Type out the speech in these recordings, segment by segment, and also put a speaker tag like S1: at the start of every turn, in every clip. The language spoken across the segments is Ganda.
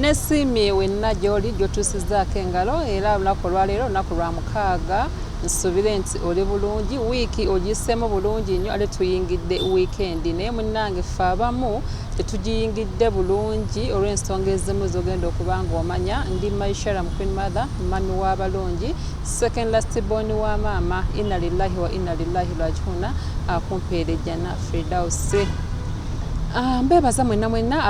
S1: nesiimye wenna gy'oli gy'otuusizaako engalo era olunaku olwaleero olunaku lwa mukaaga nsubire nti oli bulungi wiiki ogiseemu bulungi nnyo ate tuyingidde wiikendi naye munnange fe abamu tetugiyingidde bulungi olw'ensonga ezimu zogenda okuba ng'omanya ndi maishara mu queen mother mami w'abalungi second last born wa maama inna lillahi wa inna lillahi rajihuna akumpeere jjana fridausi Ah, mbebaza mwena mwena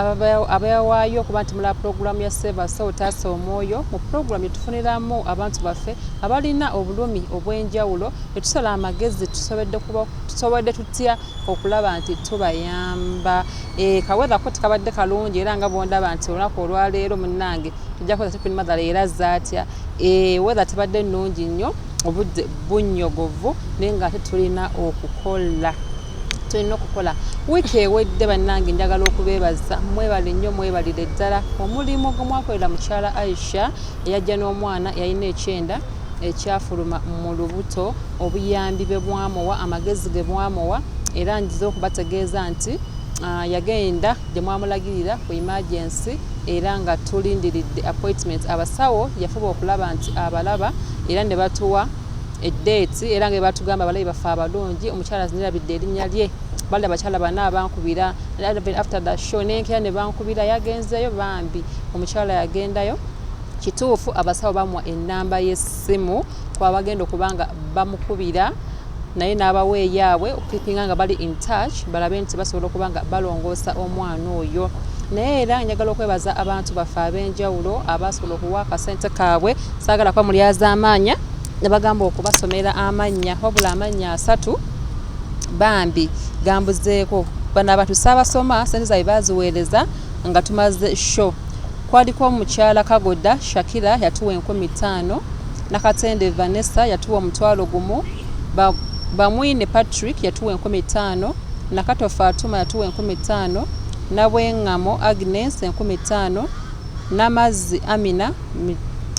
S1: abewaayo okuba nti mulaba pulogulaamu ya seva so taasa omwoyo mu pulogulaamu etufuniramu abantu baffe abalina obulumi obw'enjawulo etusala amagezi tusobodde tutya okulaba nti tubayamba eh, kawethako tikabadde kalungi era nga bwondaba nti olunaku olwaleero munange tujja kuweza tipin mathala era zaatya eh, wetha tebadde nnungi nnyo obudde bunyogovu naye nga ate tulina okukola tulina okukola wiiki ewedde bannange njagala okubeebaza mwebale nnyo mwebalire ddala omulimu ogumwakolera mukyala aisha eyajja n'omwana yalina ekyenda ekyafuluma mu lubuto obuyambi bwe bwamuwa amagezi ge bwamuwa era njiza okubategeeza nti ah, yagenda gye mwamulagirira ku imagensi era nga tulindiridde appointment abasawo yafuba okulaba nti abalaba era ne batuwa eddeeti era nga bwe batugamba abalabi baffe abalungi omukyala zinirabidde erinnya lye bali abakyala bana abankubira after the show nenkera ne bankubira yagenzeeyo bambi omukyala yagendayo kituufu abasawo bamuwa ennamba y'essimu kwabagenda okuba nga bamukubira naye n'abawa eyaabwe okukipinga nga bali in touch balabe nti basobola okuba nga balongoosa omwana oyo naye era njagala okwebaza abantu baffe ab'enjawulo abasobola okuwa akasente kaabwe saagala kuba mulyazaamaanya ne bagamba okubasomera amannya wabula amannya asatu bambi gambuzeeko bano abantu saabasoma sente zaabwe baaziweereza nga tumaze show kwaliko omukyala kagoda shakira yatuwa enkumi ttaano nakatende vanessa yatuwa omutwalo gumu bamwine patrick yatuwa enkumi ttaano nakato fatuma yatuwa enkumi ttaano nabwengamo agnes enkumi ttaano Namazzi Amina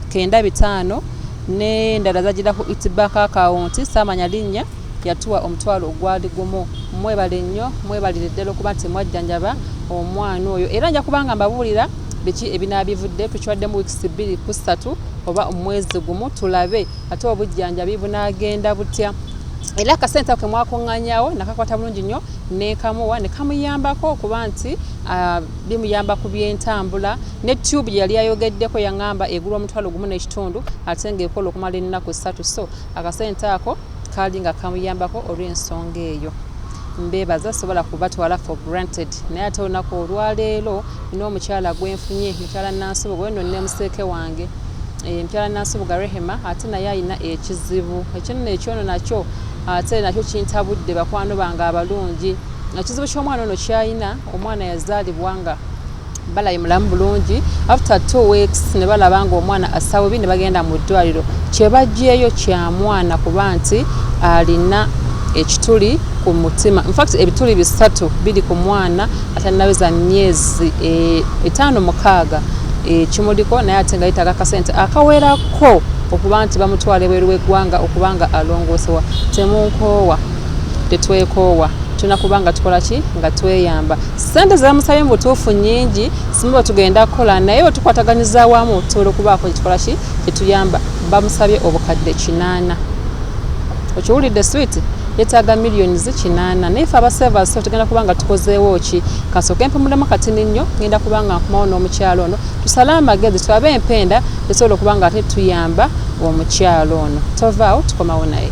S1: kenda bitaano ne ndala zajira ku Eat Bank account saamanya linnya yatuwa omutwalo ogwali gumu. Mwebale nnyo mwebalire ddala okuba nti mwajjanjaba omwana oyo era nja kubanga mbabuulira biki ebinaabivudde tukiwaddemu wiikisi bbiri ku ssatu oba omwezi gumu tulabe ate obujjanjabi bunaagenda butya era akasente ako kemwakuŋŋanyawo nakakwata bulungi nnyo nekamuwa nekamuyambako okuba nti ah, bimuyamba ku byentambula ne tube gye yali ayogeddeko yang'amba egula omutwalo gumu n'ekitundu ate ng'ekola okumala ennaku ssatu so akasente ako kaali nga kamuyambako olw'ensonga eyo mbeebaza sobola kubatwala for granted naye ate olunaku olwaleero nina omukyala gwenfunye mukyala nansubuga weno nina museeke wange eh, mukyala nansubuga rehema ate naye alina ekizibu ekyonono ekyono nakyo ate nakyo kintabudde bakwano bange abalungi ekizibu ky'omwana ono kyalina omwana yazaalibwa nga balayi mulamu bulungi after two weeks ne balaba nga omwana asabubi ne bagenda mu ddwaliro kyebajjeeyo kya mwana kuba nti alina ekituli ku mutima infact ebituli bisatu biri ku mwana atanaweza myezi e, etaano mukaaga e, kimuliko naye ate nga yetaga akasente akawerako okuba nti bamutwala ebweru w'eggwanga okuba nga alongoosewa temunkoowa tetwekoowa tulina kuba nga tukola ki nga tweyamba sente zebamusabye mu butuufu nyingi simu bwetugenda kukola naye bwetukwataganyiza awamu tusobola okubaako kyetukola ki kyetuyamba bamusabye obukadde kinaana okiwulidde switi yetaaga millions kinaana naye fe abasevas tugenda kuba nga tukozeewo ki kasooka empumulemu katini nnyo ngenda kuba nga nkumawo n'omukyalo ono tusale amagezi twabe empenda esobola okuba nga ate tuyamba omukyalo ono tovaawo tukomawo naye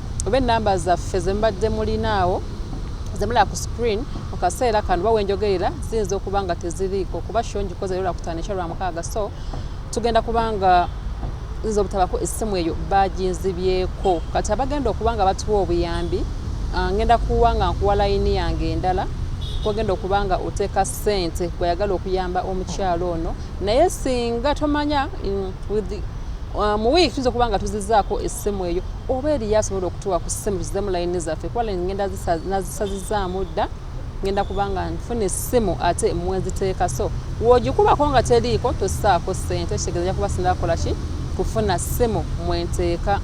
S1: oba enamba zaffe zemubadde mulina awo zemulaba ku screen mu kaseera kano oba wenjogerera ziyinza okuba nga teziriiko kuba sho ngikoze lero lwakutaano ekya lwamukaaga so tugenda kubanga nze obutabako essimu eyo baginzibyeko kati abagenda okuba nga batuwa obuyambi ah, ngenda kuwa nga nkuwa layini yange endala kwogenda okuba nga oteeka ssente kweyagala okuyamba omukyalo ono naye singa tomanya mm, ah, mu wiiki tuyinza okuba nga tuzizaako essimu eyo oba eriyo asobola okutuwa ku simu tuzemu layini zaffe kuba layini ngenda nazisazizaamu dda ngenda kubanga nfuna essimu ate mweziteeka so wogikubako nga teriiko tosaako ssente kitegeeza ja kuba sinakola ki kufuna ssimu mwenteeka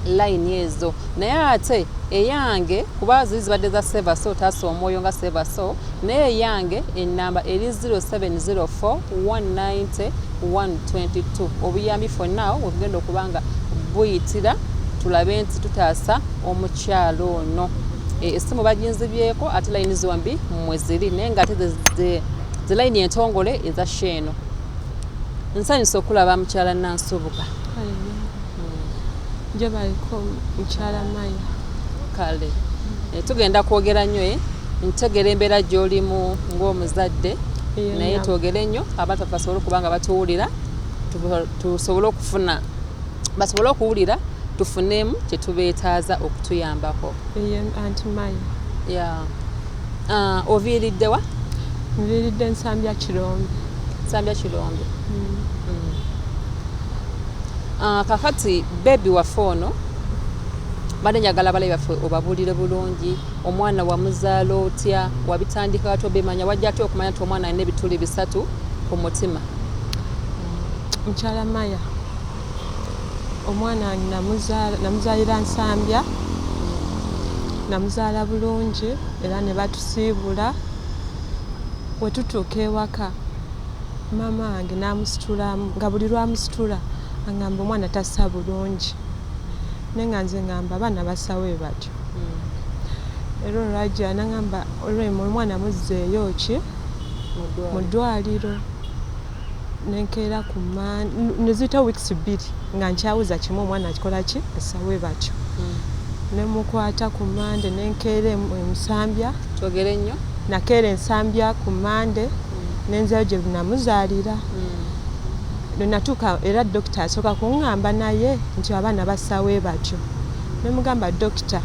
S1: layini ezo naye ate eyange kuba ziri zibadde za seva so taasa omwoyo nga seva so naye eyange enamba eri 0704 190 one twenty two obuyambi for now webugenda okuba nga buyitira tulabe nti tutaasa omukyalo ono e, esimu baginzibyeko ate layini zombi mwe ziri naye nga ate ze layini entongole eza sheeno nsanyusa okulaba mukyala nansubuga
S2: njobaliko mukyala maya kale
S1: eh, tugenda kwogera nnyo e ntegera embeera gy'olimu ng'omuzadde naye twogere nnyo abantu basobole okuba nga batuwulira tusobole okufuna basobole okuwulira tufunemu kyetubeetaaza okutuyambako ah, oviiriddewa nviiridde
S2: nsambya kirombe nsambya
S1: kirombe mm. mm. ah, kakati bebi waffe ono bade njagala balabi baffe obabuulire bulungi omwana wamuzaala otya wabitandika watya obimanya wajja atya okumanya nti omwana alina ebituli bisatu ku mutima
S2: mukyala maya omwana namuzaalira nsambya namuzaala bulungi era ne batusiibula wetutuuka ewaka maama wange namusitula nga buli lwamusitula angamba omwana tasa bulungi naye nga nze ngamba abaana basawo ebati era olwajja nagamba olwemu omwana muzzeeyo ki mu ddwaliro nenkeera ku neziyita weeks bbiri nga nkyawuza kimu omwana akikola ki esawe batyo hmm. nemukwata ku mande nenkeera emusambya togere nnyo
S1: nakeera ensambya
S2: ku mande hmm. nenzeyo gye namuzaalira hmm. lwenatuuka era dokita asooka kuŋŋamba naye nti abaana basawe batyo Nemugamba doctor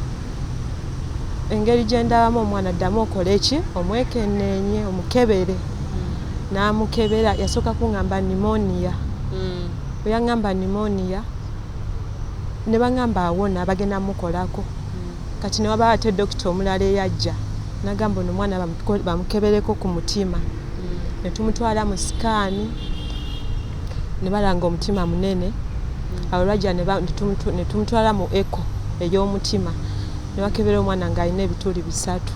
S2: engeri gyendabamu omwana ddamu okole ki omwekenenye omukebere hmm. namukebera yasooka kungamba nimonia hmm. bweyangamba nimonia nebangamba awona bagenda mukolako hmm. kati newabaa ate dokita omulala eyajja nagamba ono omwana bamukebereko ku mutima netumutwala mu sikaani ne balanga omutima munene awo lwajja ne tumutwala mu eko ey'omutima ne bakebera omwana ng'alina ebituli bisatu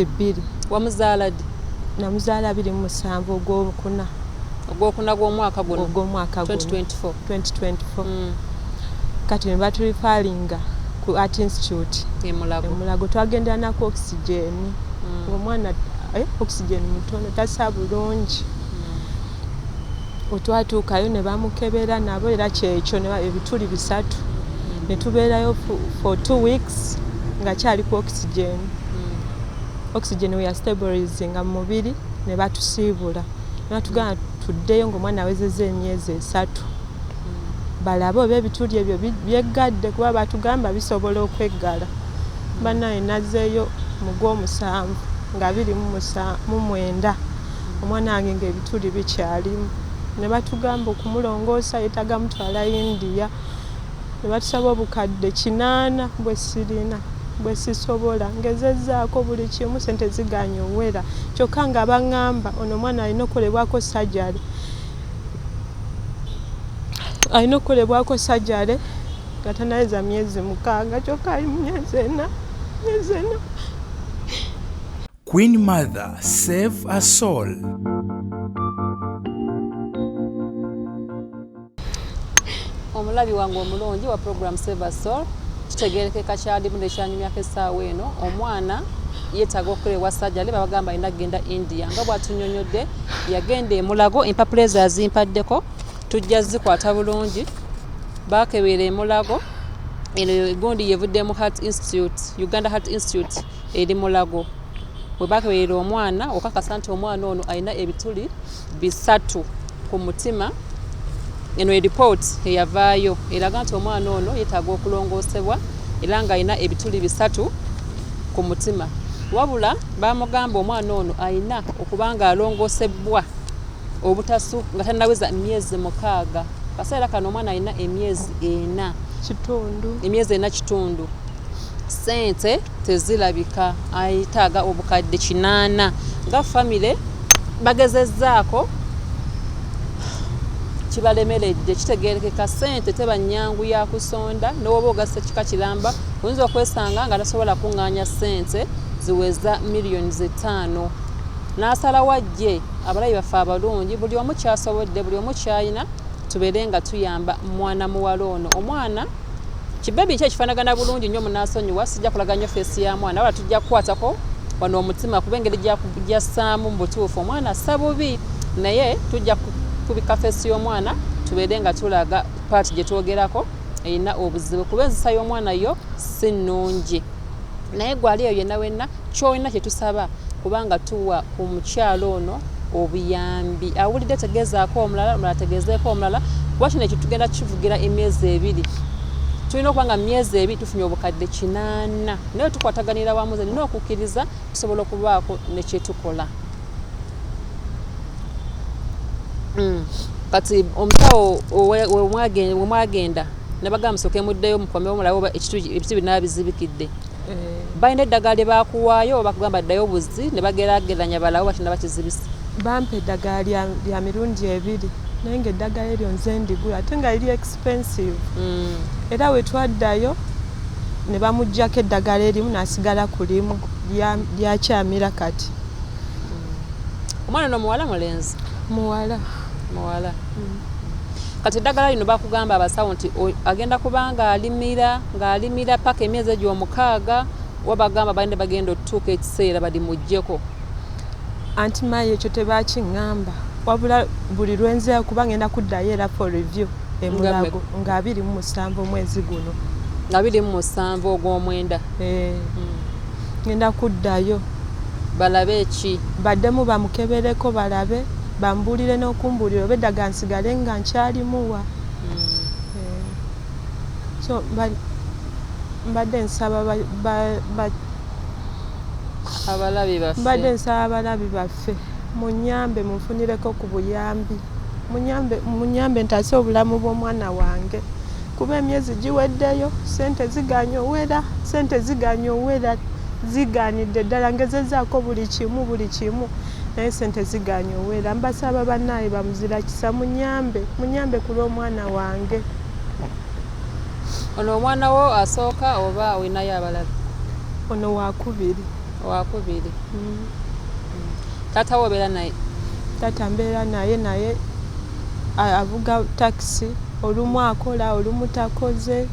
S2: bbiri
S1: namuzaala biri mu
S2: musanvu ogwokuna ogwokuna gw'omwaka guno ogw'omwaka guno 2024 kati ne baturifalinga ku art institute emulago twagendera naku oxygen mm. ngaomwana eh, oxygen mutono tasa bulungi mm. otwatuukayo ne bamukebera nabo era kyekyo ebituli bisatu mm. ne tubeerayo for two weeks nga kyali ku oxygen oxygen weyastabolizinga mu mubiri ne batusiibula mm. natugamba tuddeyo ngaomwana awezeza emyezi esatu hmm. balabe oba ebituli ebyo byeggadde kuba batugamba bisobola okweggala hmm. banaye nazeeyo mugwomusanvu nga biri mu mwenda hmm. omwana wange ngaebituli bikyalimu ne batugamba okumulongoosa yetaga mutwala india ne batusaba obukadde kinaana bwe sirina bwe sisobola ngezezzaako buli kimu ssente zigaanye owera kyokka nga bangamba ono omwana alina okukolebwako sajale alina okukolebwako sajale nga tanaweza myezi mukaaga kyokka ali mu myezi ena myezi ena
S3: Queen Mother, save a soul.
S1: omulabi wange omulungi wa program save a soul kitegerekeka kyalimu nekyanyumyako essaawa eno omwana yetaaga okukola ewa sajale babagamba alina kugenda india nga bwatunyonyodde yagenda emulago empapula ezo azimpaddeko tujja zikwata bulungi bakebeera emulago eno egundi yevudde mu heart institute uganda heart institute eri mulago webakeberera omwana okakasa nti omwana ono alina ebituli bisatu ku mutima eno eripooti eyavaayo eraga nti omwana ono yetaaga okulongoosebwa era ng'alina ebituli bisatu ku mutima wabula bamugamba omwana ono alina okuba ng'alongoosebwa obutasu nga tanaweza myezi mukaaga kaseera kano omwana alina emyezi ena kitundu emyezi ena kitundu Sente tezilabika ayetaga obukadde kinana nga family bagezezaako kibalemeledde kitegerekeka sente teba nyangu yakusonda nowoba ogasa kika kilamba oyinza okwesanga nga tasobola kunganya sente ziweza million zetaano nasala wajje abalayi baffe abalungi buli omu kyasobodde buli omu kyayina tubere nga tuyamba mwana muwala ono omwana Kibebi kye kifanagana bulungi nnyo munasonyiwa sijja kulaga nnyo feesi ya mwana wala tujja kukwatako wano omutima kuba engeri gyassaamu mu butuufu omwana assa bubi naye tujja kubika feesi y'omwana tubeere nga tulaga paati gye twogerako erina obuzibu kuba enzisa y'omwana yo si nnungi Naye gwe ali eyo yenna wenna kyolina kye tusaba kubanga tuwa ku mukyala ono obuyambi. Awulidde tegeezaako omulala, omulala tegeezeeko omulala kuba kino ekyo tugenda kivugira emyezi ebiri. Tulina okuba nga myezi ebiri tufunye obukadde kinaana. Naye tukwataganira wamu ze nina okukkiriza tusobola okubaako ne kye tukola. Mm. kati omusawo wemwagenda nabagamba musoke muddeyo mukomewo mulabe oba ebitu binaba bizibikidde eh. balina eddagala lye bakuwaayo oba kugamba ddayo obuzi ne bagerageranya balawo bakina bakizibisa bampa eddagala
S2: lya mirundi ebiri naye nga eddagala eryo nze ndigula ate nga liri expensive mm. era wetwaddayo ne bamugjako eddagala erimu nasigala ku limu lyakyamira kati
S1: omwana no muwala mulenzi muwala
S2: muwala mm.
S1: kati eddagala lino bakugamba abasawo nti agenda kuba ng'alimira ng'alimira paka emyezi egyo omukaaga oba bagamba balina bagenda otutuuka ekiseera balimugjeko
S2: anti maayi ekyo tebakiŋŋamba wabula buli lwenzeeyo kuba ngenda kuddayo era for review emulago nga abiri mu musanvu omwezi guno nga abiri mu musanvu
S1: ogw'omwenda eh. mm.
S2: Ngenda kuddayo. Balabe
S1: ki? Baddemu bamukebereko
S2: balabe, bambuulire n'okumbuulira oba eddagala nsigale nga nkyalimuwa. So mba- mbadde nsaba ba- ba- ba- Abalabi baffe. mbadde nsaba abalabi baffe Bannaffe munyambe munfunireko ku buyambi munyambe munyambe ntaase obulamu bw'omwana wange kuba emyezi giweddeyo ssente zigaanye owera ssente zigaanye owera zigaanidde ddala ngezezaako buli kimu buli kimu naye ssente zigaanye owera mbasaba bannaaye bamuzira kisa munyambe munyambe ku lw'omwana wange
S1: ono omwana wo asooka oba olinayo abalala ono
S2: wakubiri wakubiri mm.
S1: Taata wo obeera naye? Taata mbeera
S2: naye naye avuga takisi olumu akola olumu takoze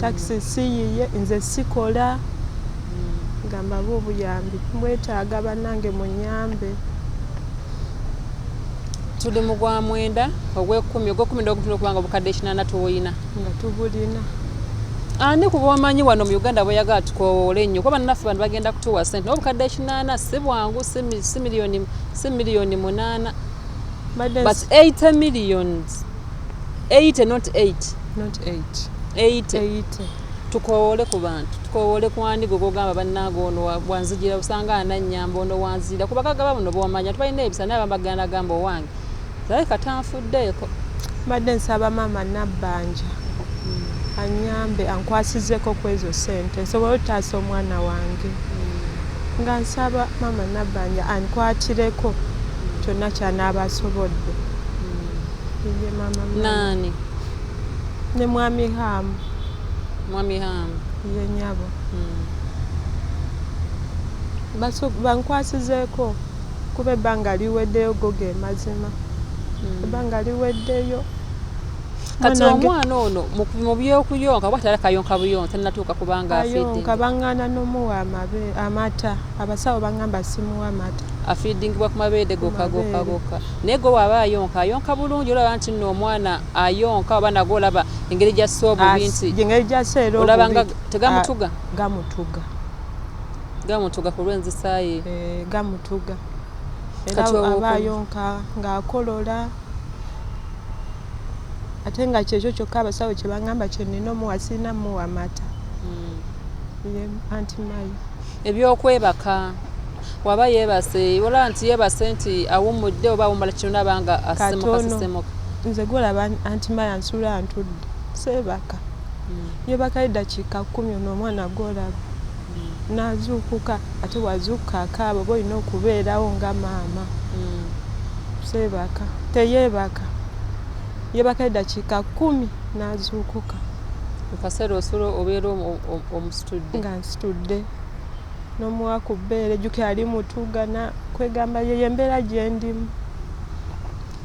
S2: takisi mm. siyiye nze sikola mm. gamba ba obuyambi mwetaaga bannange munyambe
S1: tuli mu gwa mwenda ogwekumi ogwekumi nogutuna okubanga obukadde ekinana tuwoyina nga tubulina
S2: ani
S1: ah, kuba omanyi wano mu uganda bweyagala tukowoola ennyo kuba naffe bantu bagenda kutuwa sente naye obukadde ekinaana si bwangu si miliyoni munaana but 8 millions 8 not 8 not 8 8 tukowoole ku bantu tukowoole ku ani gwe gogamba bannange ono wanzijira osanga anannyamba ono wanzijira kuba kagaba buno bwomanya tubalina ebisa naye abambagana gamba owange Zawe kata nfuddeeko. Mbadde
S2: nsaba maama Nabbanja hmm. anyambe ankwasizeko ku ezo ssente nsobole okutaasa omwana wange hmm. nga nsaba maama Nabbanja ankwatireko kyonna kyanaaba asobodde hmm. naani ne mwami haamu mwami haamu ye nyabo bankwasizeeko mm. Kuba ebbanga liweddeyo go ge mazima. Hmm. Ebbanga liweddeyo.
S1: Kati omwana ono mu by'okuyonka kuba tala kayonka buyonka tannatuuka kubanga afidde. Ayonka bang'ana
S2: n'omuwa amata. Abasawo bang'amba simuwa amata. Afiidingibwa ku mabeere
S1: gokka gokka gokka. Naye gwe waba ayonka ayonka bulungi olaba nti nno omwana ayonka oba nagwo olaba engeri gy'assa obubi nti. Engeri gy'assa era obubi.
S2: Olaba nga tegamutuga.
S1: Gamutuga. Gamutuga ku lw'enzisa ye. Eh, gamutuga
S2: era aba ayonka ng'akolola ate nga kyekyo kyokka abasawo kye baŋŋamba kye nnina omuwa sirina muwa mata hmm. ye anti mayi ebyokwebaka
S1: waba yeebase olaba nti yeebase nti awummudde oba awummula kino naba nga asemukasisemuka nze gwolaba
S2: anti mayi ansula ntudde seebaka hmm. yebakayo eddakiika kkumi ono omwana gwolaba Nazuukuka ate bwazuukuka akaaba oba olina okubeerawo nga maama seebaka teyeebaka yeebaka eddakiika kkumi nazuukuka. Mu kaseera
S1: osula obeera omusitudde? Nga nsitudde
S2: n'omuwa ku bbeere jjukira ali mutuugana kwegamba yeyo embeera gyendimu.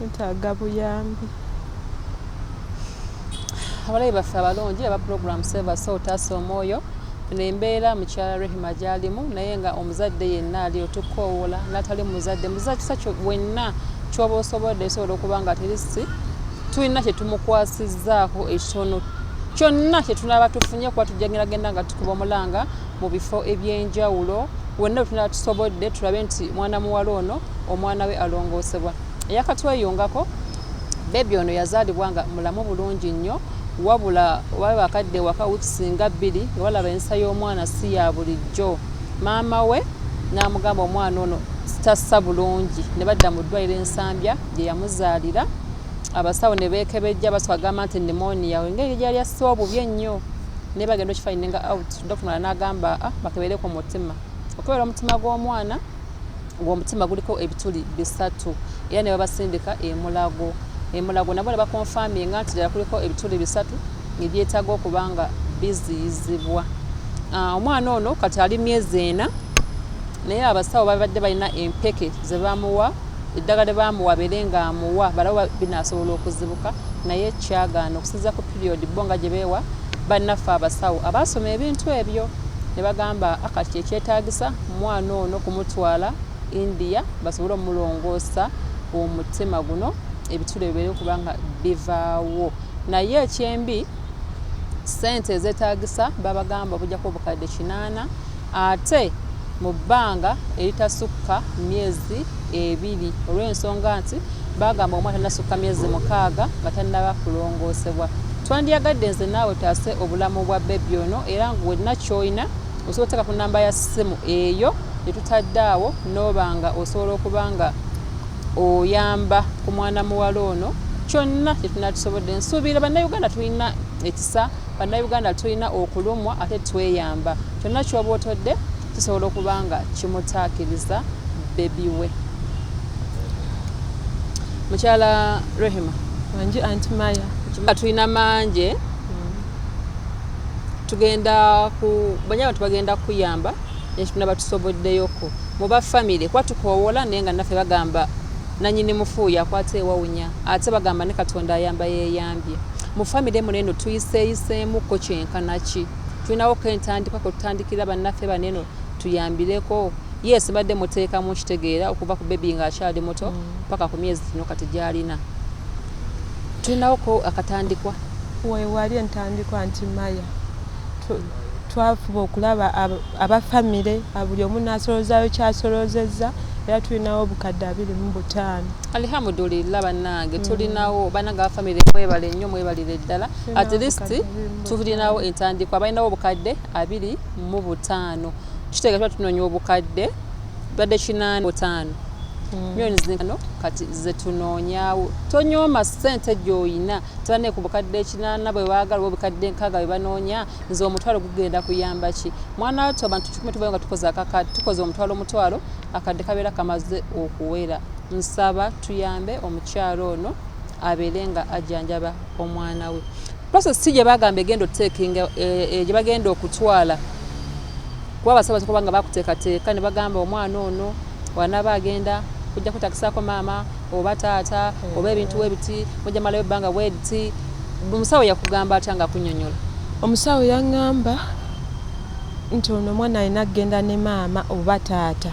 S2: Netaga buyambi.
S1: Abalabi baffe abalungi aba program Save Us All Taasa Omwoyo eno embeera mukyala Rehema gy'alimu naye nga omuzadde yenna ali otukoowoola n'atali muzadde muzadde kisa wenna kyoba osobodde esobola okuba nga terisi tulina kye tumukwasizzaako ekitono kyonna kye tunaaba tufunye kuba tujja genda genda nga tukuba omulanga mu bifo eby'enjawulo wonna we tunaba tusobodde tulabe nti mwana muwala ono omwana we alongoosebwa eyakatweyungako bebi ono yazaalibwa nga mulamu bulungi nnyo wabula wabe bakadde waka wikisinga bbiri nga balaba ensa y'omwana si ya bulijjo maama we n'amugamba omwana ono sitassa bulungi ne badda mu ddwaliro ensambya gye yamuzaalira abasawo ne beekebejja baswagamba nti nimoniya engeri gyali asse obubi ennyo naye bagenda okifayininga out dokita mala n'agamba a ah, bakebere ku mutima okukebera omutima gw'omwana ng'omutima guliko ebituli bisatu era ne babasindika emulago emulago nabo ne bakonfaminga nti ddala kuliko ebituli bisatu ebyetaaga okuba nga biziyizibwa ah, omwana ono kati ali myezi ena naye abasawo babadde balina empeke ze bamuwa eddagala lye bamuwa beere ng'amuwa balawo binasobola okuzibuka naye kyagaana okusinza period bo nga gyebeewa bannaffe abasawo abaasoma ebintu ebyo ne bagamba ah, kati kyekyetaagisa mwana ono kumutwala india basobole omulongoosa omutima guno ebitula ebibeere okuba nga bivaawo naye ekyembi sente ezetaagisa babagamba obujjako obukadde kinaana ate mu bbanga eritasukka myezi ebiri olw'ensonga nti baagamba omwana tannasukka myezi mukaaga nga tannaba kulongoosebwa. Twandyagadde nze naawe tutaase obulamu bwa bbebi ono era ng'olina ky'olina osobola okuteeka ku nnamba ya ssimu eyo gye tutadde awo n'oba nga osobola okuba nga oyamba ku mwana muwala ono kyonna kye tunaatusobodde nsuubira bannayuganda tulina ekisa Bannayuganda tulina okulumwa ate tweyamba. Kyonna ky'oba otodde kisobola okuba nga kimutaakiriza bbebi we. Mukyala Rehema. Wangi Anti
S2: Maya. Nga tulina manje
S1: mm. tugenda ku banyama tubagenda kuyamba nekituna batusoboddeyoko muba famire kuba tukoowola naye nga naffe bagamba nanyini mufuuyo akwata ewawunya ate bagamba ne katonda ayamba yeyambye Mu famire muno eno tuyiseeyiseemu ko kyenkana ki? Tulinawo ko entandikwa kwe tutandikira bannaffe bano eno tuyambireko? Yes, mbadde muteekamu nkitegeera okuva ku bebi ng'akyali muto mm. paka ku myezi gino kati gy'alina. Tulinawo ko akatandikwa. Weewali
S2: entandikwa nti Maya twafuba okulaba aba famire buli omu n'asoloozaayo ky'asoloozezza era tulinawo obukadde abiri mu butaano. Alihamudulillah
S1: banange mm. tulinawo banange ba family mwebale nnyo mwebalire ddala at least tulinawo entandikwa balinawo obukadde abiri mu butaano kitega tuba tunonya obukadde badde kinaana butaano mm. millioni zino kati zetunoonyawo tonyooma sente gyoyina tebane ku bukadde ekinaana bwe baagala oba obukadde enkaaga bwe banoonya nze omutwalo gugenda kuyamba ki mwana wattu abantu kikumi tubayo nga tukoze omutwalo omutwalo akadde kabeera kamaze okuwera Nsaba tuyambe omukyala ono abeere nga ajjanjaba omwana we. Process si gye bagamba egenda otekinga eh, eh, gye bagenda okutwala kuba abasaba kuba nga bakuteekateeka ne bagamba omwana ono wanaba agenda kujja kwetakisaako maama oba taata oba ebintu we biti mujja malayo ebbanga bwe liti omusawo yakugamba atya nga kunyonyola omusawo
S2: yaŋŋamba nti ono omwana alina kugenda ne maama oba taata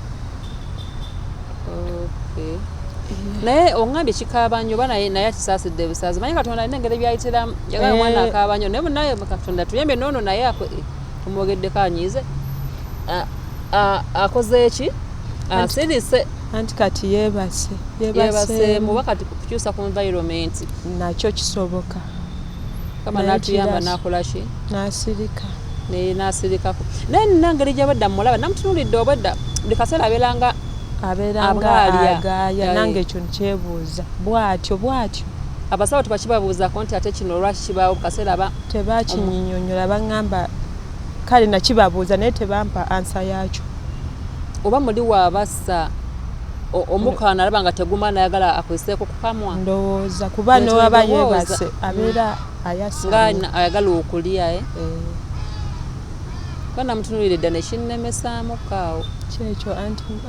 S1: okay. naye ongambye kikaaba nyo oba naye naye akisaasidde busaazi manye katonda alina engeri byayitiramu yagala omwana eh. akaaba nyo naye munaye katonda tuyambe noono naye eh, omwogeddeko anyiize akoze eki asirise anti kati
S2: yebase yebase
S1: muba kati kukyusa ku environment nakyo
S2: kisoboka kama
S1: natuyamba nakolaki nasirika
S2: naye nasirikako
S1: naye nina ngeri gyabadda mulaba namutunulidde obwedda buli kaseera abeeranga abeerangaagaya
S2: nange ekyo nkyebuuza bwatyo bwatyo abasawo
S1: tebakibabuuzako nti ate kino olwaki kibaawo bukaseera aba tebakinyinyonyola
S2: baŋamba kale nakibabuuza naye tebampa ansa yakyo oba
S1: muli waabassa omukaana alaba nga teguma nayagala akozeseko kamwa ndowooza kuba
S2: newaba yebase mm. abeera ayasanga ayagala okulya
S1: eh? eh. kuba namutunulire dda nekinnemesaamu kaawo kyekyo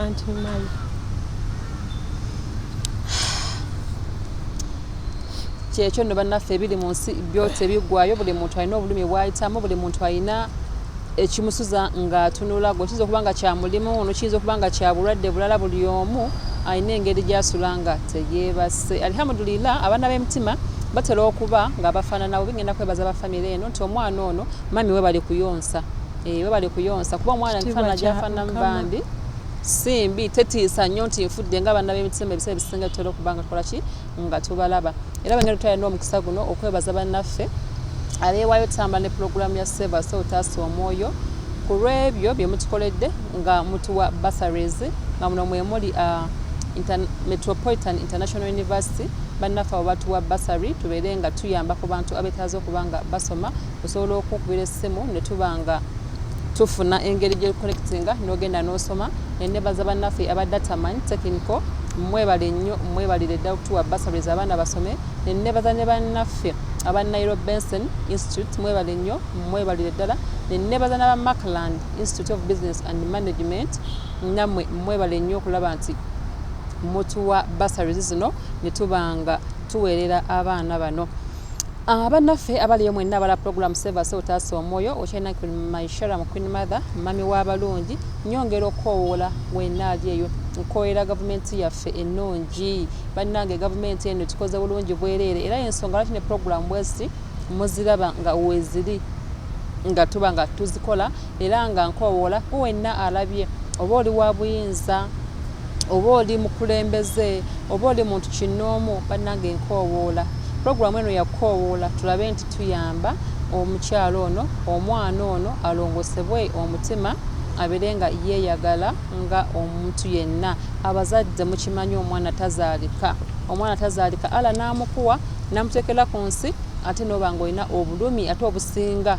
S2: anti mali
S1: kyekyo no bannaffe ebiri mu nsi byotebigwayo buli muntu alina obulumi bwayitamu buli muntu alina ekimusuza nga atunula gwe kiyinza okuba nga kya mulimu ono kiyinza okuba nga kya bulwadde bulala buli omu alina engeri gyasula nga teyeebase alihamudulila abaana b'emitima batera okuba nga bafaananawo bigenda kwebaza bafamire eno nti omwana ono mami we bali kuyonsa eh, we bali kuyonsa kuba omwana efaanana gyafaananamu bambi simbi tetiisa nnyo nti nfudde nga abaana b'emitima ebiseera ebisinga tutera okuba nga tukola ki nga tubalaba era bengeri tutalina omukisa guno okwebaza bannaffe abeewaayo otutambula ne pulogulaamu ya sevas otaasa omwoyo ku lw'ebyo bye mutukoledde nga mutuwa basaries nga muno mwe muli uh, metropolitan international university bannaffe abo batuwa basary tubeere nga tuyamba ku bantu abetaaza okuba nga basoma osobola okukubira essimu ne tuba nga tufuna engeri gye connectinga n'ogenda n'osoma enebaza bannaffe aba dataman technical mwebale nnyo mwebalire ddala okutuwa basaries abaana basome nenebaza ne bannaffe aba nairo benson institute mwebale nnyo mwebalire ddala nenebaza naba macland institute of business and management namwe mwebale nnyo okulaba nti mutuwa basaries zino netubanga tuweerera abaana bano Ah, bannaffe abaliyo mwenna abala program sevase otaasa omwoyo okyalina maishara mu queen mother mami w'abalungi nyongera okukowoola wenna ali eyo nkoyera gavumenti yaffe ennungi bannange gavumenti eno tukoze bulungi bwereere era yensonga lwaki ne program bweziti muziraba nga weziri nga tuba nga tuzikola Era nga nkowoola ku wenna alabye, oba oli wa buyinza, oba oli mukulembeze, oba oli muntu kinnoomu, bannange nkowoola, pulogulaamu eno ya kukoowoola, tulabe nti tuyamba omukyala ono, omwana ono alongosebwe omutima, abeere nga yeeyagala nga omuntu yenna. Abazadde mukimanyi omwana tazaalika. Omwana tazaalika Allah n'amukuwa, n'amuteekera ku nsi, ate n'oba nga olina obulumi ate obusinga.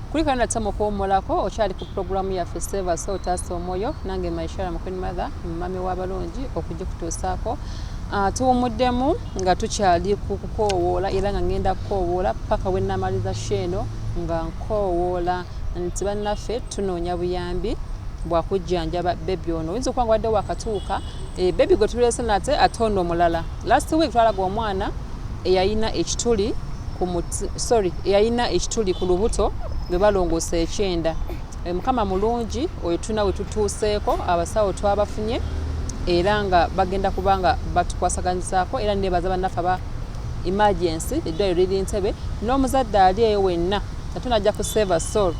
S1: kulika nata mukuwumulako okyali ku pulogulaamu yaffe seva so otaasa omwoyo nange maishara mukwin mother mumami w'abalungi okugikutuusaako ah, tuwumuddemu nga tukyali ku kukoowoola era nga ngenda kukoowoola paka we namaliza sheeno nga nkoowoola nti bannaffe tunoonya buyambi bwakujjanjaba bebi ono oyinza okuba nga wadde wakatuuka eh, bebi gwe tuleese nate ate ono omulala Last week twalaga omwana eyayina ekituli sorry eyayina ekituli ku lubuto lwe balongoosa ekyenda eh, mukama mulungi oyo tulina we tutuuseeko abasawo twabafunye era nga bagenda kuba nga batukwasaganyizaako era nebaza bannaffe aba emergency eddwaliro liri ntebe n'omuzadde ali eyo wenna ate najja ku save a soul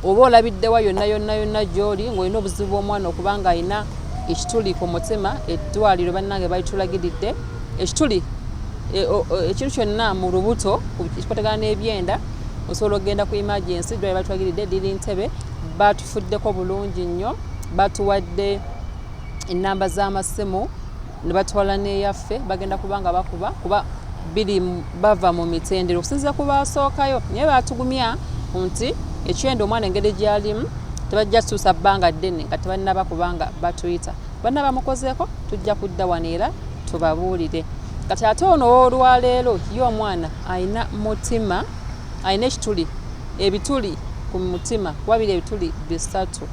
S1: Oba olabiddewa yonna yonna yonna gyoli ng'olina obuzibu bw'omwana okuba ng'alina ekituli ku mutima eddwaliro bannange balitulagiridde ekituli e, ekintu kyonna mu lubuto ekikwatagana n'ebyenda osobola okugenda ku emergency eddwaliro balitulagiridde liri ntebe batufuddeko bulungi nnyo batuwadde ennamba z'amasimu ne batwala n'eyaffe bagenda kuba nga bakuba kuba biri bava mu mitendero okusinzira ku baasookayo naye baatugumya nti ekyenda omwana engeri gyalimu tebajja tuusa bbanga ddene nga tebannaba kubanga batuyita banna bamukozeeko tujja kudda wano era tubabuulire kati ate ono ow'olwaleero ye omwana alina mutima alina ekituli ebituli ku mutima wabiri ebituli bisatu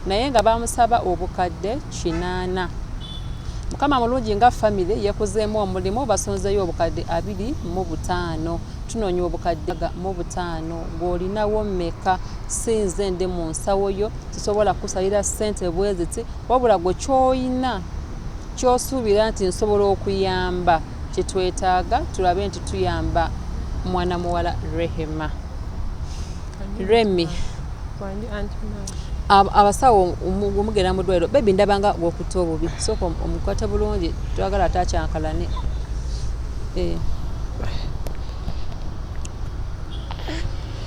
S1: naye nga bamusaba obukadde kinaana Mukama mulungi nga family yekuzeemu omulimu basonzeyo obukadde abiri mu butaano tunoonya obukadde mu butaano gwolinawo meka sinze ndi mu nsawo yo sisobola kusalira sente bweziti wabula gwe kyoyina kyosuubira nti nsobola okuyamba kyetwetaaga tulabe nti tuyamba mwana muwala rehema Remy abasawo omugera mu ddwaliro bebi ndaba nga gwokutta obubi sooka omukwate bulungi twagala ate akyankalane eh.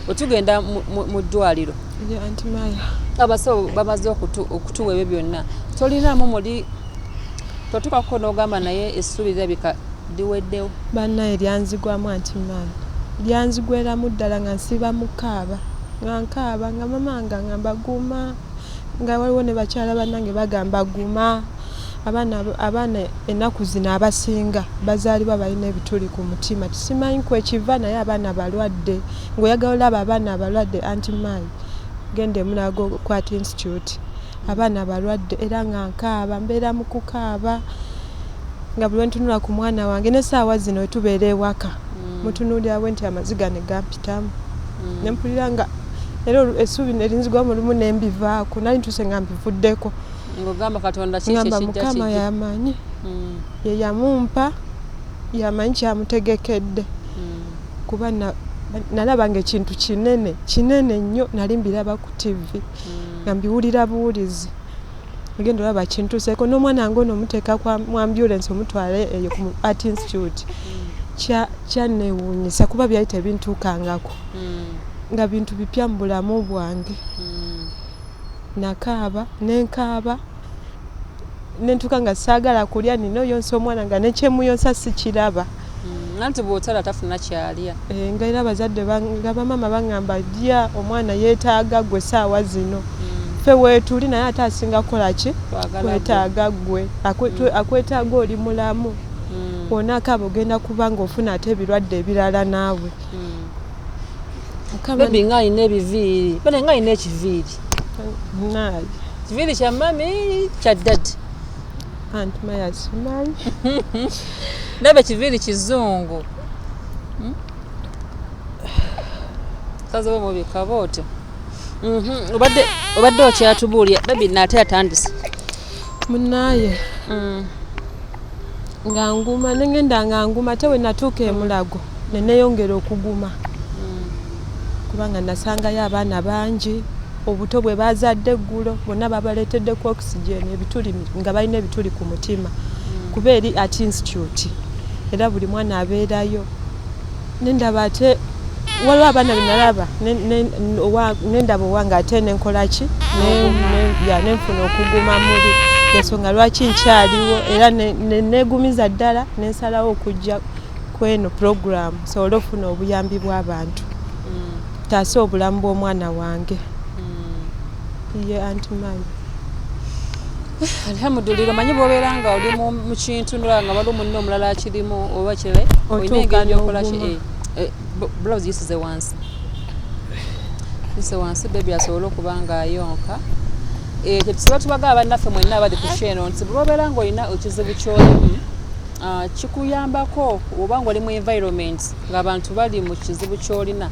S1: otugenda mu ddwaliro abasawo bamaze okutuwa ebyo byonna tolinaamu muli totukakuko n'ogamba naye essuubi lirabika liweddewo. Banaye
S2: lyanzigwamu anti man lyanzigweramu ddala nga nsiiba mukaaba nga nkaaba nga mama nga ngamba guma nga waliwo ne bakyala banange bagamba guma abaana abaana ennaku zino abasinga bazaalibwa balina ebituli ku mutima tisimanyi kwekiva naye abaana balwadde ngaoyagala olaba abaana abalwadde anti maayi genda emulago kwata institute Abaana balwadde era nga nkaaba, mbeera mu kukaaba nga buli lwe ntunula ku mwana wange n'essaawa zino we tubeera ewaka mm. mutunuulira bwe nti amaziga ne gampitamu mm. ne mpulira nga era essuubi ne linzigwamu lumu ne mbivaako nali ntuuse nga mbivuddeko ng'ogamba katonda
S1: kiki ekijja kiki mukama yamanyi
S2: mm. ye yamumpa yamanyi kyamutegekedde kuba nalabanga ekintu kinene kinene nnyo nali mbiraba ku tivi nga mbiwulira buwulizi ogenda olaba kintuseeko n'omwana nga ono omuteeka mu ambulance omutwala eyo ku art institute kyanneewuunyisa kuba byali tebintuukangako hmm. nga bintu bipya mu bulamu bwange hmm. nakaaba nenkaaba nentuka nga saagala kulya nina oyonsa omwana nga nekyemuyonsa sikiraba mm, anti
S1: bwotala tafuna kyalya eh, nga era abazadde
S2: nga bamama baŋamba lya omwana yetaaga gwe saawa zino mm. fe wetuli naye ate asinga kukolaki kwetaaga gwe mm. akwetaaga oli mulamu wonaka abo ogenda kubanga ofuna ate ebirwadde ebirala naawe
S1: nga alina ebiviiri nga alina ekiviiri
S2: Naye. Kiviri kya
S1: mami kya daddy. Aunt
S2: Maya simanyi.
S1: Nabe kiviri kizungu. Hmm? Kazi bo bobi kabote. Mhm. Obadde obadde okyatubuulya baby nate atandise.
S2: Munaye.
S1: Mhm.
S2: nga nguma nengenda nga nguma te wenatuuka emulago neneyongera okuguma kubanga nasangayo abaana bangi obuto bwe bazadde eggulo bonna babaleetedde ku oxygen ebituli nga balina ebituli ku mutima mm. kuba eri at institute era buli mwana abeerayo nendaba ate waliwo abaana benalaba nendaba owange ate nenkolaki nenfuna okuguma muli ensonga lwaki nkyaliwo era nenegumiza ddala nensalawo okujja kweno program nsobole okufuna obuyambi bwabantu mm. taase obulamu bw'omwana wange mm. ye anti mami
S1: alhamudulira omanyi bwobeera nga oli mu kintu nolaba nga waliwo munne omulala akirimu oba kire olina engeri gyokolaki eh, eh, blouse yisize wansi yise wansi bebi asobole okuba nga ayonka eh, kyetusiba tubaga abannaffe mwenna abali ku kyeno nti bwobeera nga olina ekizibu kyolimu Ah, kikuyambako oba ngaoli mu environment ngaabantu bali mu kizibu kyolina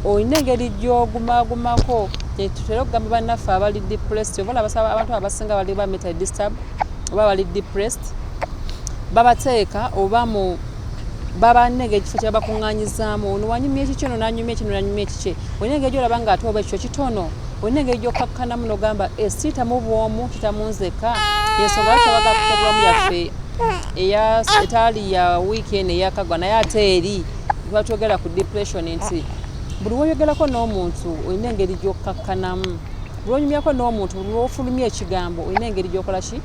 S1: olina engeri gyogumagumako tetutera okugamba bannaffe abali depressed oba olabasaba abantu abasinga bali ba meta disturb oba bali depressed babateeka oba mu babanenge ekifo kyebabakuŋŋanyizaamu ono wanyumya ekikye ono nanyumya ekino nanyumya ekikye olina engeri gyolaba nga ate oba ekikyo kitono olina engeri gyokkakkanamu nogamba eh, siita mu bwomu kita munzekka yensonga lwaki abagala kutabulamu yaffe etaali ya wiiki eno eyakagwa naye ate eri batwogera ku depression nti buli woyogerako n'omuntu olina engeri gyokkakkanamu buli wonyumyako n'omuntu buli wofulumya ekigambo olina engeri gyokola ki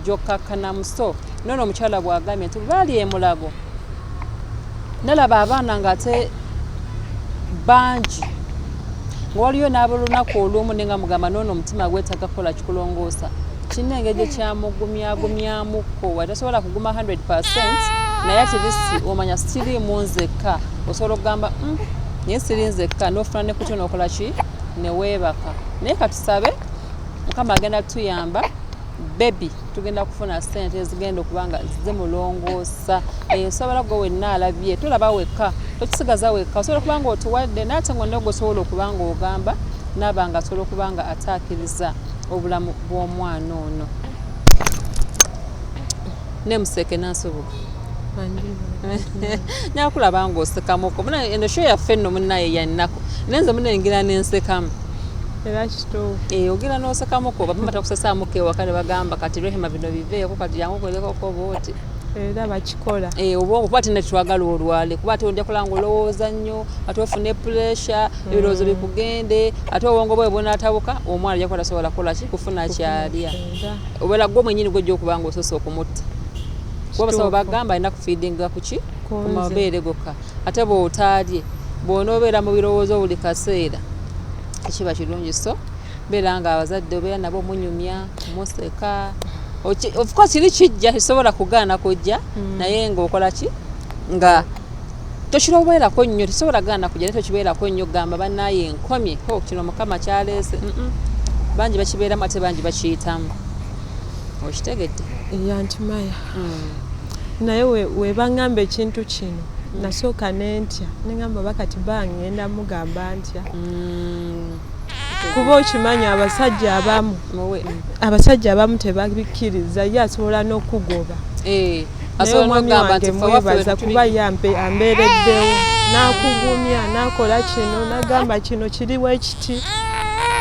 S1: gyokkakkanamu so nono omukyala bwagambye nti baali emulago nalaba abaana ngaate bangi nga waliyo n'abolunaku olumu ne nga mugamba noono omutima gwetaga kukola kikulongoosa kirina engeri gye kyamugumyagumyamuko wa tasobola kuguma 100 percent naye atirisi omanya sitiri mu nzekka osobola okugamba mm, naye siri nzekka n'ofuna ne kutyo n'okola ki ne weebaka naye katusabe mukama agenda tutuyamba bebi tugenda kufuna sente ezigenda okuba nga zimulongoosa eyo eh, nsobola gwe wenna alabye tolaba wekka tokisigaza wekka osobola okuba nga otuwadde naate nga onnago osobola okuba nga ogamba naaba nga asobola okuba nga ataakiriza obulamu bw'omwana ono ne museke nasoboka nakulaba nga osekamuko muna eno sho yaffe nno munaye yannako naye nze munengera nensekamu era
S2: kituufu eh, ogera nosekamuko
S1: bamama takusesamuko ewaka ne bagamba kati rehema bino biveeko kati yangu kwelekoko booti era bakikola
S2: eh, oba okuba ti
S1: netwagala olwale kuba ate ojja kola nga olowooza nnyo ate ofune puresha mm. ebirowoozo bikugende ate obwongo bwe bunatabuka omwana ajja kuba tasobola kukola ki kufuna kyalya obeera gwe mwenyini gwojja okuba nga osose okumutta kuba basaba bagamba alina kufiidinga kuki ku mabeere gokka Ate bw'otaalye, bw'onoobeera mu birowoozo buli kaseera tekiba kirungi so beera nga abazadde obeera nabo munyumya museka of course kiri kijja tekisobola kugaana kujja mm. naye ng'okola ki nga tokirowoolako nnyo tekisobola gaana kujja naye tokibeerako nnyo gamba banaye nkomye ho kino mukama kyaleese bangi bakibeeramu ate bangi bakiyitamu okitegedde yantimaya
S2: mm. naye webangamba ekintu kino mm. nasooka nentya nengamba bakati bangenda mugamba ntya mm. kuba okimanyi abasajja abamu abasajja abamu tebabikkiriza ye asobola n'okugoba eh, naye omwami wange mwebaza kuba ye ambeereddewo n'akugumya n'akola kino nagamba kino kiriwo ekiti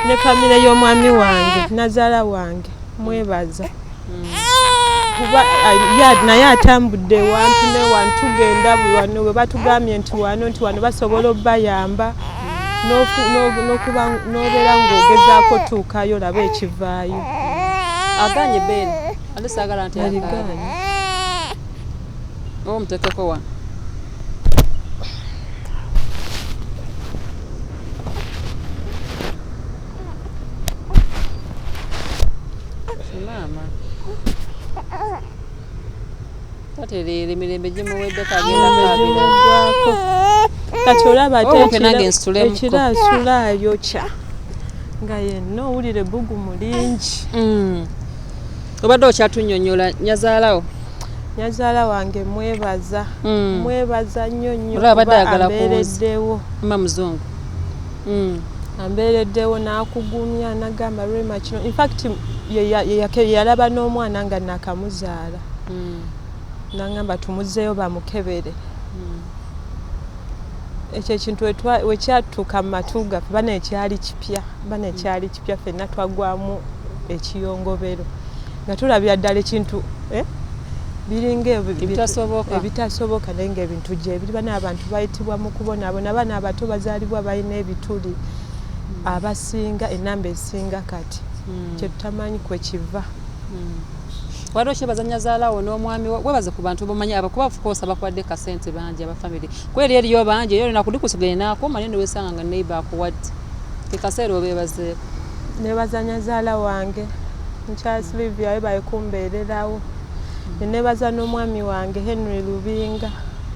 S2: ne famire y'omwami wange nazaala wange mwebaza kuba naye atambudde ewantu newantu tugenda buli wano we batugambye nti wano nti wano basobola obayamba nobeera ngaogezaako tuukayo olaba ekivaayo aganye
S1: ben alisagala nti aliganye oba omutekeko wano maama tatereera emirembe gimuweddeko agendaagwako
S2: kati olaba atekirage nsituleekiraasula ayokya nga yenna owulire bbugu mu lingi mm.
S1: obadde okyatunyonyola nyazaalawo nyazaala
S2: wange mwebaza mm. mwebaza nnyo nnyo kuba ambeereddewo mma muzungu
S1: mm. ambeereddewo
S2: n'akugumya nagamba rema kino infact yeyalaba n'omwana nga nakamuzaala mm. nangamba tumuzeeyo bamukebere mm. ekyo ekintu wekyatuuka mu matu gaffe bana ekyali kipya bana ekyali kipya fenna twagwamu ekiyongobero nga tulabira ddala ekintu eh? biringa ebitasoboka naye nga ebintu gyebiriba n'abantu bayitibwa mu kubonaabona abaana abato bazaalibwa balina ebituli hmm. abasinga enamba esinga kati hmm. kyetutamanyi kwekiva hmm.
S1: waliwo kyebazanya zaalawo n'omwami webaze ku bantu bomanyi abakuba ofukoosa bakuwadde kasente bangi abafamire kweri eriyo bangi eyo olina kulikusigala enaako mali newesanga nga neiba akuwadde kekaseera obeebazeeko Nebaza
S2: nyazaala wange Charles Livia webale kumbeererawo. Nebaza n'omwami wange Henry Lubinga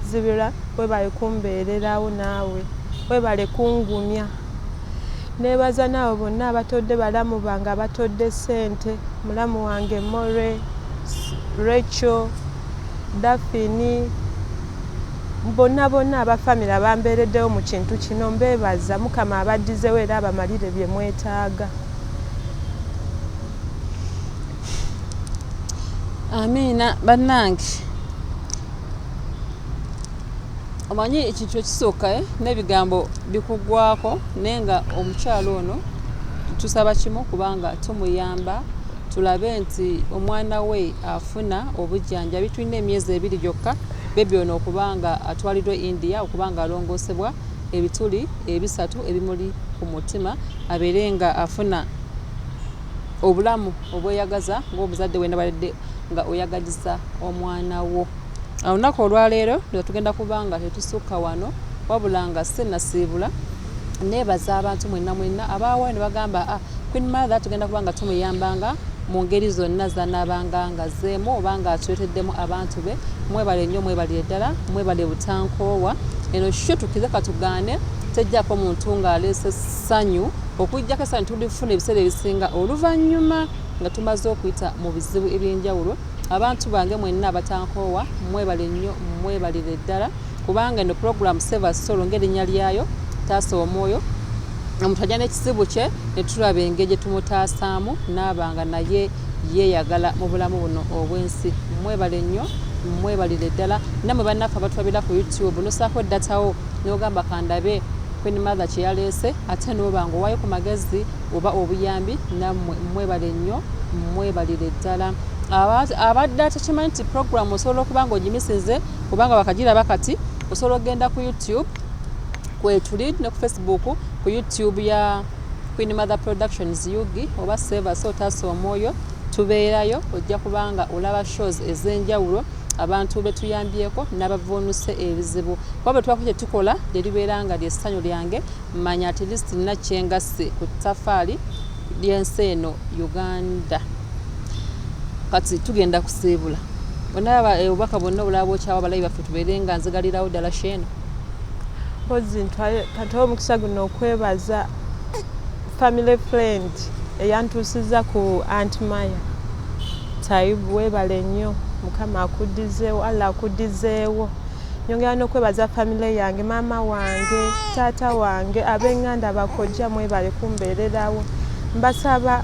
S2: Zibira webale kumbeererawo naawe webale kungumya. Nebaza naabo bonna abatodde balamu bange abatodde ssente mulamu wange More, Rachel, Daphine, Bonna bonna aba family abambeereddewo mu kintu kino mbeebaza, Mukama abaddizewo era abamalire bye mwetaaga.
S1: Amiina bannange omanyi ekintu ekisooka eh, n'ebigambo bikugwako naye nga omukyalo ono tusaba kimu kubanga tumuyamba tulabe nti omwana we afuna obujjanjabi tulina emyezi ebiri gyokka Bbebi ono okuba nga atwaliddwa e India okuba nga alongoosebwa ebituli ebisatu ebimuli ku mutima abeere nga afuna obulamu obweyagaza ng'omuzadde wena baledde nga oyagaliza omwana wo. Olunaku olwaleero nga tugenda kuba nga tetusukka wano wabula nga sinasiibula neebaza abantu mwenna mwenna abaawayo ne bagamba ah, Queen Mother tugenda kuba nga tumuyambanga mu ngeri zonna zanaabanga ng'azzeemu oba ng'atuleeteddemu abantu be mwebale nnyo mwebalire ddala mwebale butankoowa eno sho tukkize katugaane tejjako muntu ng'aleese ssanyu okujjako essanyu tulifuna ebiseera ebisinga oluvannyuma nga tumaze okuyita mu bizibu eby'enjawulo abantu bange mwenna abatankoowa mwebale nnyo mwebalire ddala kubanga eno pulogulaamu seva solo ng'erinnya lyayo taasa omwoyo omuntu ajja n'ekizibu kye ne tulaba engeri gye tumutaasaamu n'aba nga naye yeeyagala mu bulamu buno obw'ensi mwebale nnyo mwebalire ddala namwe bannaffe abatulabira ku youtube nosaako datawo nogamba kandabe queen mother kye yaleese ate noba nga owayo ku magezi oba obuyambi namwe mwebale nnyo mwebalire ddala abadde atakimanyi nti programu osobola okuba nga ogimisize kubanga bakagiraba kati osobola okugenda ku youtube kwetuli ne ku facebook ku youtube ya queen mother productions ug oba seva so taasa omwoyo tubeerayo ojja kubanga olaba shows ez'enjawulo abantu betuyambyeko nabavuunuse ebizibu kuba bwetubako kyetukola lyeribeera nga lyessanyu lyange manya at least nina kyengasse ku tafaali lyensi eno uganda kati tugenda kusiibula onaba eh, obubaka bwonna obulaba bwokyawa balabi baffe tubeere nga nzigalirawo ddala sheeno
S2: mpozi ntwale katowa omukisa guno okwebaza family friend eyantuusiza ku ant maya taibu webale nnyo mukama akudizeewo alla akudizeewo nyongera n'okwebaza famile yange maama wange taata wange abenganda bakojja mwebale kumbeererawo mbasaba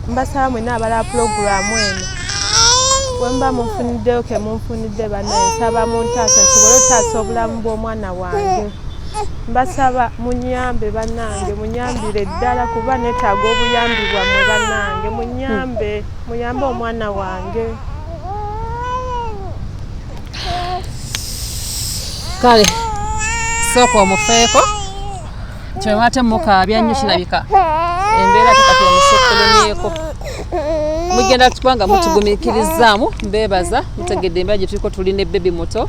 S2: Mbasaba mwena abala pulogulaamu eno wemuba munfuniddeyo kemunfunidde banaye nsaba muntaasa nsobole otaasa obulamu bw'omwana wange mbasaba munyambe banange munyambire ddala kuba netaaga obuyambi bwamwe banange munyambe muyambe omwana wange
S1: kale sooka omufeeko Kyoba ate mukaabya nnyo kirabika embeera tekati omusekulumyeko mugenda kubanga mutugumiikirizaamu mbeebaza mutegedde embeera gye tuliko tuli ne bebi muto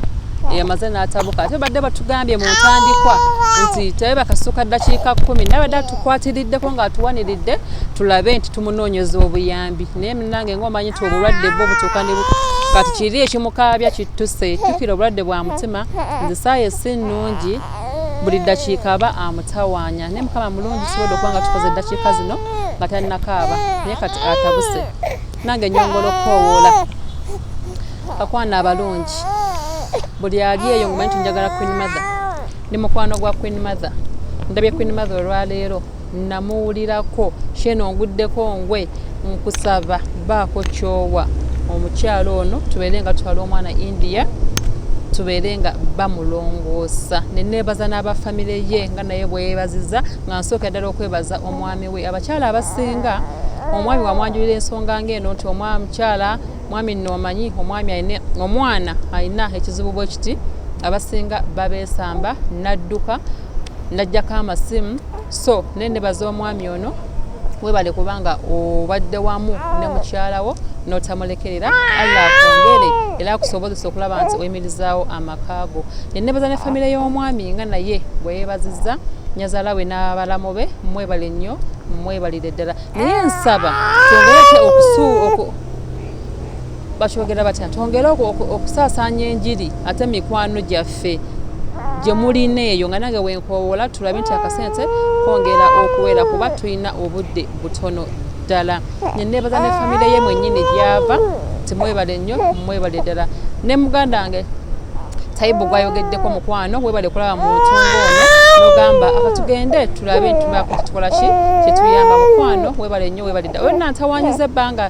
S1: eyamaze n'atabuka ate badde batugambye mu ntandikwa nti tebe bakasuuka ddakiika kkumi naye badde atukwatiriddeko ng'atuwaniridde tulabe nti tumunoonyeza obuyambi naye munange ngaomanyi nti obulwadde bwo butuuka ne kati kiri ekimukaabya kittuse jjukira obulwadde bwa mutima nze saayo si nnungi buli ddakiika aba amutawaanya naye mukama mulungi kisobodde okuba nga tukoze eddakiika zino nga talinakaaba naye kati atabuse nange nyongola okukoowoola bakwana abalungi buli ali eyo ngamanyi tunjagala queen mother ndi mukwano gwa queen mother ndabye queen mother olwaleero namuwulirako sheno nguddeko ngwe nkusaba baako kyowa omukyala ono tubeere nga tutwala omwana india tubeere nga bamulongoosa neneebaza n'abafamire ye nga naye bweyebaziza nga nsooka ddala okwebaza omwami we abakyala abasinga omwami wamwanjulira ensonga ngaeno nti omwami mukyala mwami nno omanyi omwami aine omwana alina ekizibu bwe kiti abasinga babeesamba nadduka najjako amasimu so naye nebaza omwami ono webale kubanga obadde wamu ne mukyalawo notamulekerera allah akwongere era akusobozesa okulaba nti oyimirizaawo amaka go nenebaza ne famire y'omwami nga naye bweyebaziza nyazala we n'abalamu be mwebale nnyo mwebalire ddala naye nsaba tongere okusu bakyogera batya twongere okusaasaanya enjiri ate mikwano gyaffe gye mulina eyo nga nange wenkowoola tulabe nti akasente kwongera okuwera kuba tulina obudde butono ddala neneebaza ne famire ye mwennyini gyava timwebale nnyo mwebale ddala ne muganda wange tayibu gwayogeddeko mukwano webale kulaba mu ntunga ono nogamba akatugende tulabe ntubakutukola ki kyetuyamba mukwano webale nnyo webale ddala oyo nantawanyiza ebbanga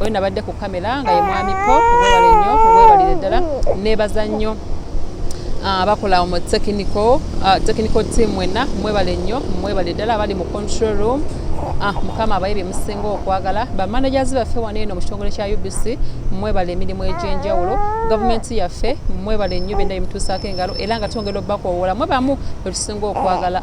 S1: oyo nabadde ku kamera nga ye mwami po webale nnyo webalire ddala nebaza nnyo ah, abakola mu technical ah, technical team mwenna mwebale nnyo mwebale ddala abali mu control room ah, mukama abaye byemusinga okwagala bamanagers baffe wano eno mu kitongole kya ubc mwebale emirimu egy'enjawulo gavumenti yaffe mwebale nnyo byonna bimutuusaako engalo era nga twongera obubakowoola mwebamu bwetusinga okwagala